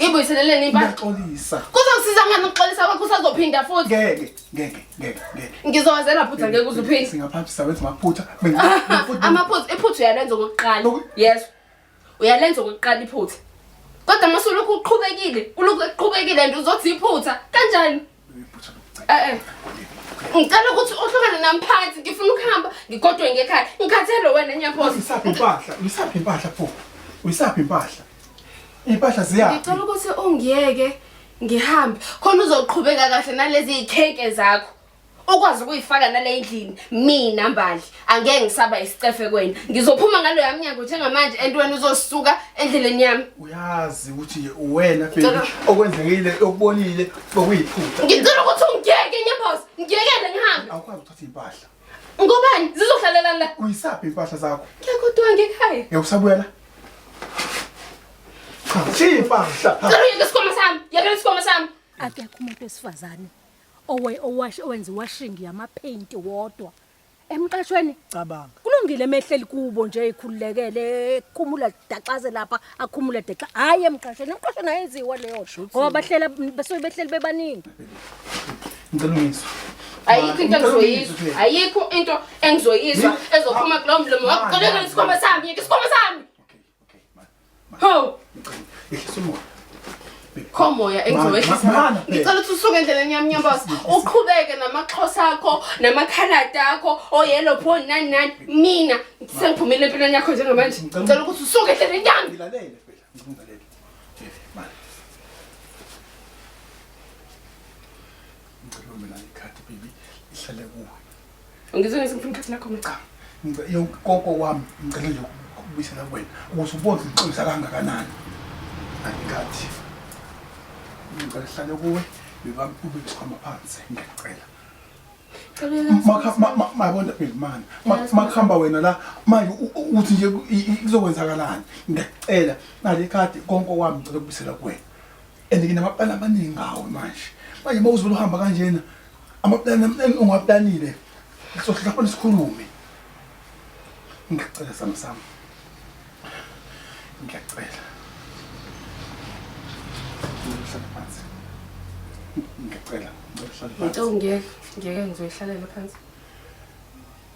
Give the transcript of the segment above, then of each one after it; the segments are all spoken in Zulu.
Ngibuyiseleleni impahla. Ngiyaxolisa. Kuzokusiza ngani ukuxolisa kwakho usazophinda futhi? Ngeke, ngeke, ngeke, ngeke. Ngizowazela phutha ngeke uze uphinde. Singaphambi sawenza amaphutha. Mina futhi Amaphutha, iphutha uyalenza okokuqala. Oku- Yes. Uyalenza okokuqala iphutha. Kodwa mase ulokhu uqhubekile, ulokhu eqhubekile and uzothi iphutha. Kanjani? Eh, eh. ngicela ukuthi uhlukane nami phansi ngifuna ukuhamba ngigodwe ngekhaya ngikhathele wena nyaphosa uyisaphi impahla uyisaphi impahla pho uyisaphi impahla iy'mpahla ziyaphi ngicela ukuthi ungiyeke ngihambe khona uzoqhubeka kahle nalezi y'kheke zakho ukwazi ukuyifaka nale ndlini mina mbali angeke ngisaba isicefe kwena ngizophuma ngalo yami nyango njengamanje and wena uzosuka endleleni yami uyazi ukuthi nje uwena baby okwenzekile okubonile okuyiphutha ngicela ukuthi ungiyeke nyambos ngiyekele ngihambe awukwazi ukuthatha impahla ngobani zizohlalela la uyisaphi impahla zakho ngiyakodwa ngekhaya ngiyakusabuya la cha impahla cela uyeke isikhwama sami yekela isikhwama sami akekho umuntu wesifazane owe owash owenza iwashing yamapaint wodwa emqashweni cabanga kulungile emehleli kubo nje ekhululekele ekhumula daxaze lapha akhumule dexa hayi emqashweni emqashweni ayenziwa leyo ngoba bahlela basuke behleli bebaningi ngicela ungizwe ayikho into engizoyizwa ayikho into engizoyizwa ezophuma kulowo mlomo wakuqolekela isikhwama sami yeke isikhwama sami Okay, ma. ma. Ho! Ehlisa umoya. khomoya engizowehlisa Ma- ma- ma- ngicela ukuthi usuke endleleni yami nyambosa uqhubeke namaxhosa akho namakhaladi akho oyelo pho nani nani mina sengiphumile empilweni yakho njengamanje ngicela ukuthi usuke endleleni yami Ngilalele phela, ngicela ungilalele. Eh, ma. Ngicela ume nalo ikhadi baby, lihlale kuwe. Ngizwe ngizwe ngifuna ikhathi lakho mgcama. Ngicela yokoko wami ngicela nje ukubuyisela kuwena ukuthi ubonze inhlonza kangakanani. Angikathi. Ngicela hlale kuwe bebami ube isikhwama phansi ngiyacela. mabona bhekimani makuhamba wena la manje uthi nje kuzokwenzakalani ngiyacela nale khadi konke okwami ngicela kubisela kuwena and nginamapulani amaningi ngawo manje manje uma uzibona uhamba kanjena amapulani amhlani ungaplanile sohlala khona sikhulume ngiyacela sami sami ngiyacela ngihlala phansi ngiyacela ngihlala phansi into ngeke ngeke ngizoyihlalele phansi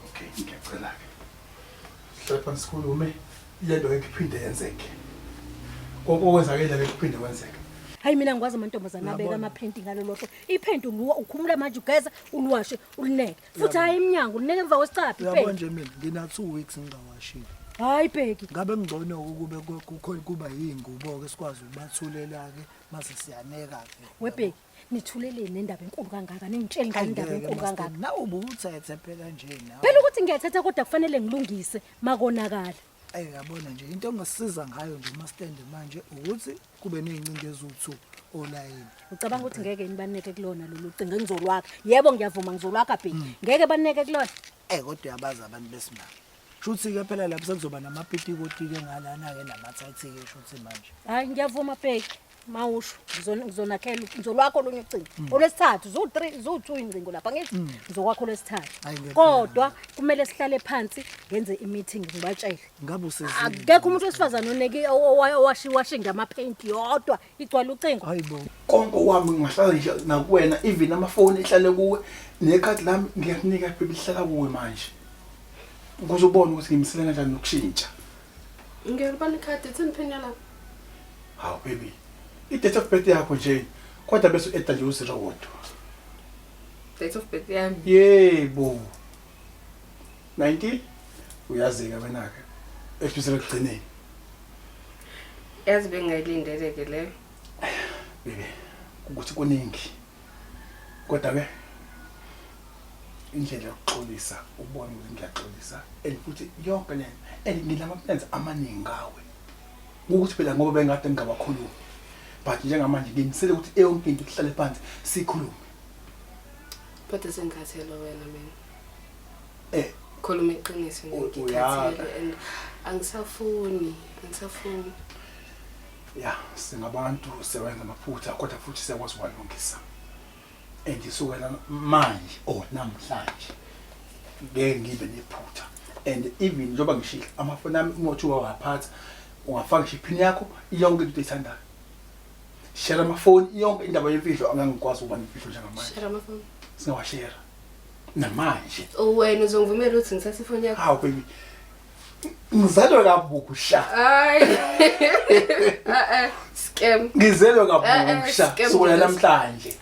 okay ngiyacela ke Hlala phansi sikhulume lento ngeke iphinde yenzeke. Konke okwenzakele ngeke kuphinde kwenzeke. Hayi mina ngikwazi amantombazane abeka amaphenti ngalo lotho. Iphenti nguwa ukhumula manje ugeza uliwashe ulineke. Futhi hayi emnyango ulineke emva kwesicaphi Uyabona iphenti. nje mina ngina 2 weeks ngingawashile. Hayi bheki. Ngabe ngcono ukube ku- kukho kuba yingubo ke sikwazi ukubathulela ke mase siyaneka ke. Webheki. nithuleleni nendaba enkulu kangaka ningitsheli ngani indaba enkulu kangaka nawe ubuthethe phela nje nawe phela ukuthi ngiyathetha kodwa kufanele ngilungise makonakala ayi yabona nje into engisiza ngayo nje mastende manje ukuthi kube nezincinga eziwu2 olayini ucabanga ukuthi ngeke nibaneke kulona lolu cinga ngizolwakha yebo ngiyavuma ngizolwakha bhe mm. ngeke baneke kulona eh kodwa uyabaza abantu besimama Shuthi ke phela lapho sekuzoba namapitikotike ngalana ke namathathike shuthi manje. Hayi ngiyavuma bheki. mawusho ngizonakhela ngizolwakho olunye ucingo mm. olwesithathu zu-three zu-two ingcingo lapha ngithi mm. ngizokwakho olwesithathu kodwa kumele sihlale phansi ngenze i-meeting ngibatshele akekho umuntu wesifazane oneke owashiwashe ngamaphenti yodwa igcwala ucingo konke owami ngingahlala nje nakuwena even amafoni ehlale kuwe nekhadi lami ngiyakunika phela lihlala kuwe manje ukuze ubone ukuthi ngimsele kanjani nokushintsha ngiyolibona ikhadi ithini phini yalapho Hawu baby, i-date of birth yakho nje kodwa bese u-eda nje uziro wodwa. Date of birth yami. Yebo. 90 uyazika wena-ke ekubizela ekugcineni. Yazi bengingayilindele ke leyo. Baby, ukuthi kuningi. Kodwa ke indlela yokuxolisa ubone ukuthi ngiyaxolisa and futhi yonke le and ngilama plans amaningi ngawe ukuthi phela ngoba bengade ngingabakhulumi but njengamanje ngimisele ukuthi eyonke into kuhlale phansi sikhulume kodwa sengikhathele wena mina eh khuluma iqiniso ngikhathele and angisafuni angisafuni ya singabantu sewenza amaphutha kodwa futhi siyakwazi uwalungisa and kusukela manje or namhlanje ngeke ngibe nephutha and even njengoba ngishilo amafoni ami uma uthiwa waphatha ungafaka ngisho iphini yakho yonke into oyithandayo share amafoni yonke indaba yemfihlo angangikwazi ukuba nemfihlo njengamanje Share amafoni. singawashera namanje Oh, wena uzongivumela ukuthi ngithathe ifoni yakho hawu baby Ngizelwe kabusha. Hayi. Eh eh scam. Ngizelwe kabusha eh, eh, sukela namhlanje.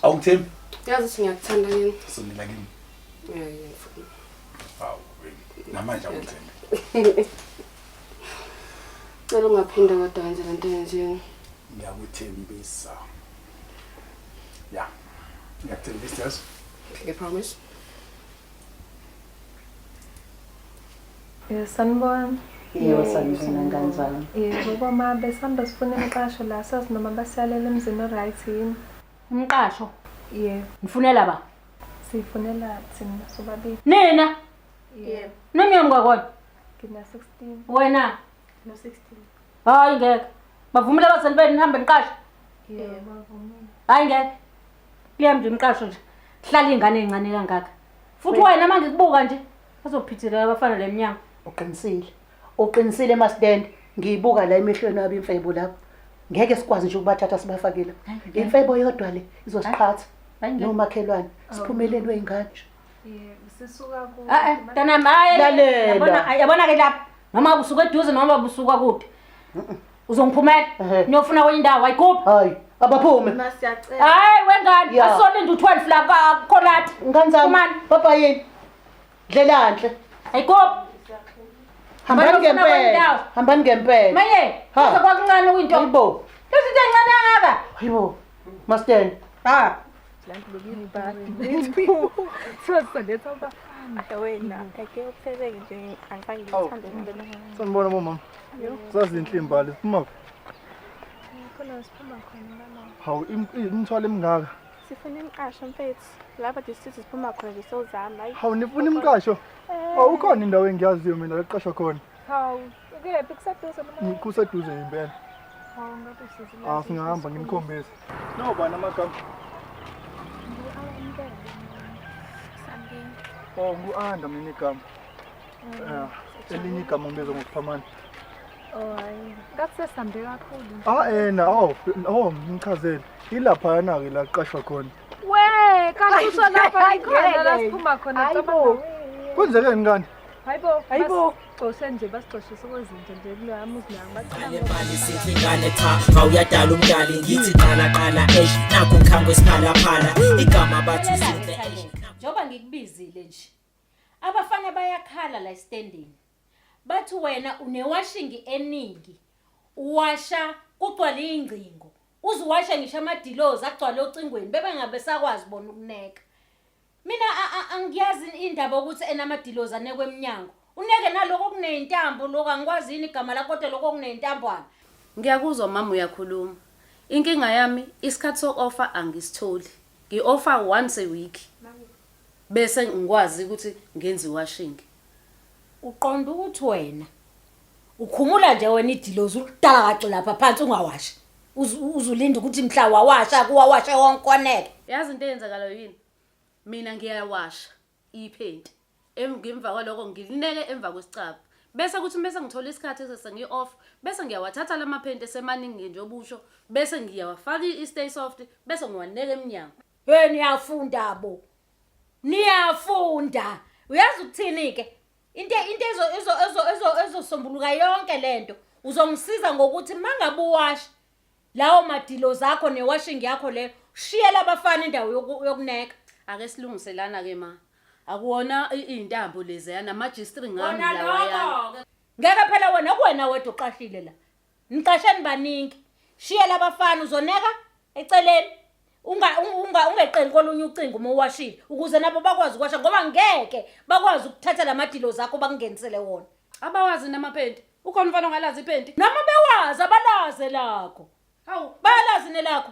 Awungithembi? Yazi ukuthi ngiyakuthanda yini? Sonela kimi. Hayi. Awu. Namanje awungithembi. Cela ungaphinde kodwa wenze lento yenziwe. Ngiyakuthembisa. Ya. Ngiyakuthembisa. I promise. Eh, sanibona yebo sanibona kanjani yebo boma besihamba sifuna imiqasho la sazi noma basiyalela emzini o-right yini umqasho yebo ngifunela ba siyifunela thina sobabili nina yebo nomyeni kwakwona ngina-sixteen wena no-sixteen hayi ngeke bavumile abazali benu nihambe niqashe yebo bavumile hayi ngeke Liyam nje umqasho nje. Hlala ingane encane kangaka. Futhi wena manje kubuka nje azophithela abafana lemnyango. Uqinisile. Uqinisile masidende. Ngiyibuka la emehlweni wabi imfebo lapho. Ngeke sikwazi nje ukubathatha sibafakile. Imfebo yodwa le izosiqhatha. Nomakhelwane siphumeleni weingane nje. Sisuka ku. Ah eh, mntana maye. Yabona yabona ke lapha. Noma usuke eduze noma usuka kude. uzongiphumela Ehhe. niyofuna kwenye indawo ayikuphi hayi abaphume Ma siyacela. hayi wengane Ya. asone nje u-12 la ka- kholathi ngane zami Phumani. baba yini dlelanhle ayikuphi hambani Bafuna ngempela kwendawo. hambani ngempela maye Ha. kuze kwakuncane kuyinto hayibo lezi zinto encane kangaka hayibo masteni ha sanibona bomama zazinhle imbali ziphuma hawu imithwalo emingaka sifuna imiqasho mfethu laba district siphuma khona nje sozama hawu nifuna imiqasho eh. hawu ukhona indawo engiyaziyo mina leqashwa khona hawu Ukephi kuseduze mina. Kuseduze impela. Hawu ngabe sisi. Ah singahamba ngimkhombise. No bana amagama. Oh ngu-Anda mina igama. Yeah. Elinye igama ngibiza ngokuphamana. Oh hayi. Ngathi sesambe kakhulu. Ah ena oh oh ngichazele. Ilapha yana ke la qashwa khona. We, kanti usho lapha ikhona la siphuma khona. Hayibo. Kwenzekeni kanti? Hayibo. Hayibo. Xosha nje basixoshisa kwezinto nje kuloya muzi nayo baqhalemali sithi ingane cha mawuyadala umdali ngithi qala qala eish nakho ngikhango esikhalaphala igama bathu sihle eish njengoba ngikubizile nje abafana bayakhala la estendini bathi wena unewashingi eningi uwasha kugcwala ingcingo uziwasha ngisho amadilozi agcwala ocingweni bebe ngabe sakwazi bona ukuneka mina angiyazi indaba ukuthi enamadilozi anekwe emnyango uneke naloko kuneyintambo lokho angikwazi yini igama lakho kodwa lokho kuneyintambwana ngiyakuzwa mama uyakhuluma inkinga yami isikhathi soku-ofa angisitholi ngi-ofa once a week bese ngikwazi ukuthi ngenze iwashingi uqonda ukuthi wena ukhumula nje wena idilozi uludala kaci lapha phansi ungawashi uzulinda ukuthi mhla wawasha kuwawashe wonke oneke yazi into eyenzakalayo yini mina ngiyawasha iphenti emgemva kwaloko ngilineke emva kwesicaba bese kuthi mese ngithola isikhathi sesengi off bese ngiyawathatha lamaphenti esemaningi nje obusho bese ngiyawafaka i-stay soft bese ngiwaneka emnyango hey niyafunda bo niyafunda uyazi ukuthini ke into into ezo ezo ezo ezo ezosombuluka yonke lento uzongisiza ngokuthi mangabe uwasha lawo madilo zakho newashing yakho le shiyela abafana indawo yokuneka ake silungiselana ke ma akuwona izintambo lezi yana majistri ngami lawa yana ngeke phela wena kuwena wedwa uqashile la Ngiqasheni baningi. Shiya labafana uzoneka eceleni. Unga unga ungeqeni kolunye ucingo uma uwashile ukuze nabo bakwazi ukwasha ngoba ngeke bakwazi ukuthatha lamadilo zakho bakungenisele wona. Abawazi namaphenti. Ukhona umfana ongalazi iphenti? Noma bewazi abalaze lakho. Hawu, bayalazi nelakho.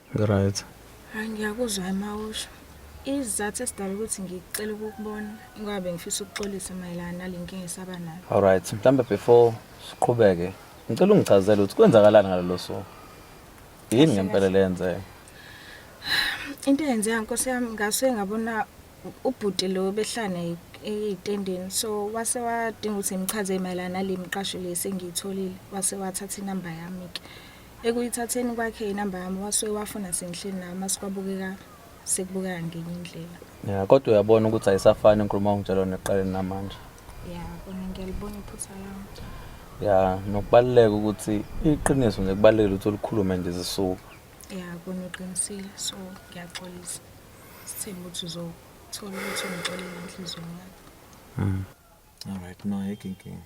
Ngiright. Hayi ngiyakuzwa emawusho. Izizathu esidala ukuthi ngicela ukukubona ngoba bengifisa ukuxolisa mayelana nale nkinga esaba nayo. Alright, mhlambe before siqhubeke, ngicela ungichazele ukuthi kwenzakalani ngalelo suku. Yini ngempela leyenzeka? Into eyenzeka nkosi yami ngase ngabona ubhuti lo behlane eyitendeni so wase wadinga ukuthi ngichaze mayelana nale miqasho le sengiyitholile wase wathatha inamba yami ke Ekuyithatheni kwakhe inamba yami wasuke wafona sengihleli naye uma sikwabukeka sekubukeka ngenye indlela. Ya kodwa uyabona ukuthi ayisafani inkulumo ongitshela neqaleni namanje. Ya kona ngiyalibona iphutha lami. Ya nokubaluleka ukuthi iqiniso nje kubalulekile ukuthi ulikhulume nje zisuka. Ya kona uqinisile so ngiyaxolisa. Sithemba ukuthi uzothola ukuthi ungixolele enhlizweni yakho. Mm. All right no ayikho inkinga.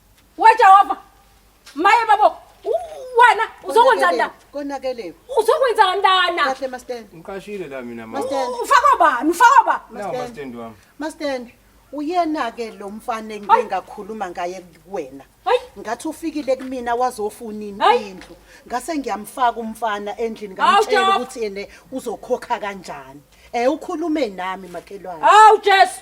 WeJehova. Maye babo. Wena uzokwenza ndana. Konakelewe. Uzokwenza kandana. Kahle mastand. Ngiqashile la mina mama. Mastand. Ufaka bani? Ufaka bani? Mastand. Mastand wami. Mastand. Uyena ke lo mfana engike ngakhuluma ngaye kuwena. Ngathi ufikile kumina wazofuna indlu. Ngase ngiyamfaka umfana endlini ngamtshela ukuthi yena uzokhokha kanjani. Eh ukhulume nami makhelwane. Hawu Jesu.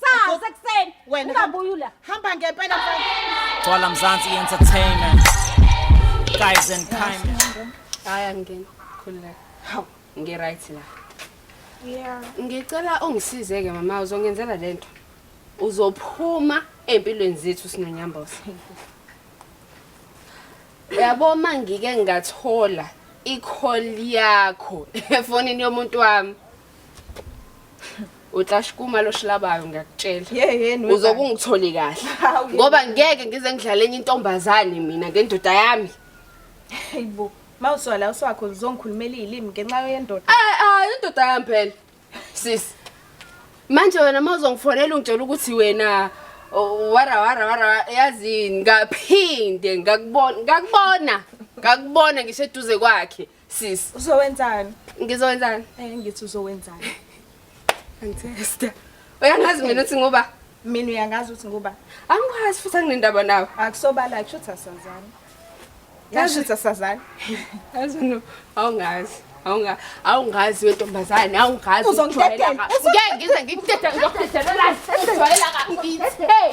Sawu sekuseni. Wena ungabuyi ula. Hamba ngempela mfana. Twala Mzansi Entertainment. Guys and kind. Hayi angena. Khululeka. Hawu, ngi right la. Yeah. Ngicela ungisize ke mama uzongenzela lento. Uzophuma empilweni zethu sinonyambosa. Yabo mangike ngathola i-call yakho efonini yomuntu wami. utlashkuma loshilabayo ngiyakutshela yeyeni uzobe ungitholi kahle ngoba ngeke ngize ngidlale enye intombazane mina ngendoda yami hayibo ma uswala uswakho uzongikhulumela iyilimi ngenxa yendoda eh ah indoda yami phela sis manje wena ma uzongifonela ungitshela ukuthi wena wara wara wara yazini ngaphinde ngakubona ngakubona ngakubona ngisho eduze kwakhe Sis, uzowenzani? Ngizowenzani? Eh ngithi uzowenzani? Angithesta. Uyangazi mina uthi ngoba mina uyangazi uthi ngoba angikwazi futhi anginendaba nawe. Akusobala kusho ukuthi asazani. Yasho ukuthi asazani. Yazi no awungazi. Awunga awungazi wentombazane awungazi. Uzongidedela. Ngeke ngize ngikudedele ngizokudedela la. Ngizwalela kabi. Hey.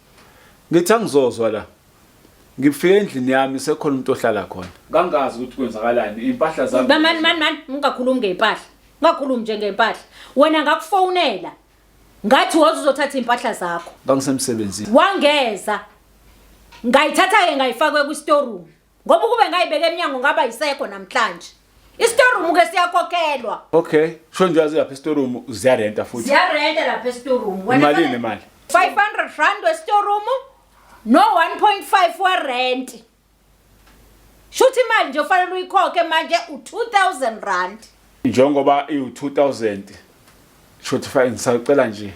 Ngithi angizozwa la. Ngifike endlini yami sekhona umuntu ohlala khona. Kangazi ukuthi kwenzakalani impahla zami. Mani mani mani ungakhulumi ngempahla. Ungakhulumi nje ngempahla. Wena ngakufonela. Ngathi woza uzothatha impahla zakho. Ngangisemsebenzini. Wangeza. Ngayithatha ke ngayifaka kwi store room. ngoba ukube ngayibeka emnyango ngaba yisekho namhlanje isitorum ke siyakhokhelwa okay sho nje wazi lapha isitorum ziyarenta futhi ziyarenta lapha isitorum imalini imali 500 rand wesitorum no 1.5 wa rent shuthi imali nje ufanele uyikhokhe manje u2000 rand Njengoba iwu-2000 shothi fake ngisacela nje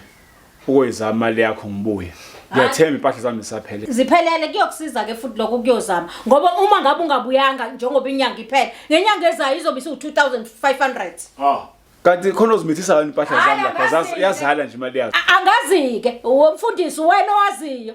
ukoyizama imali yakho ngibuye. Ngiyathemba impahla zami zisaphele. Ziphelele kuyokusiza ke futhi lokho kuyozama ngoba uma ngabe ungabuyanga njengoba inyanga iphele ngenyanga ezayo izobe isiwu 2500. Ah. Kanti khona uzimithisa kanti impahla zami lapha yazala nje imali yakho. Angazike, womfundisi wena owaziyo.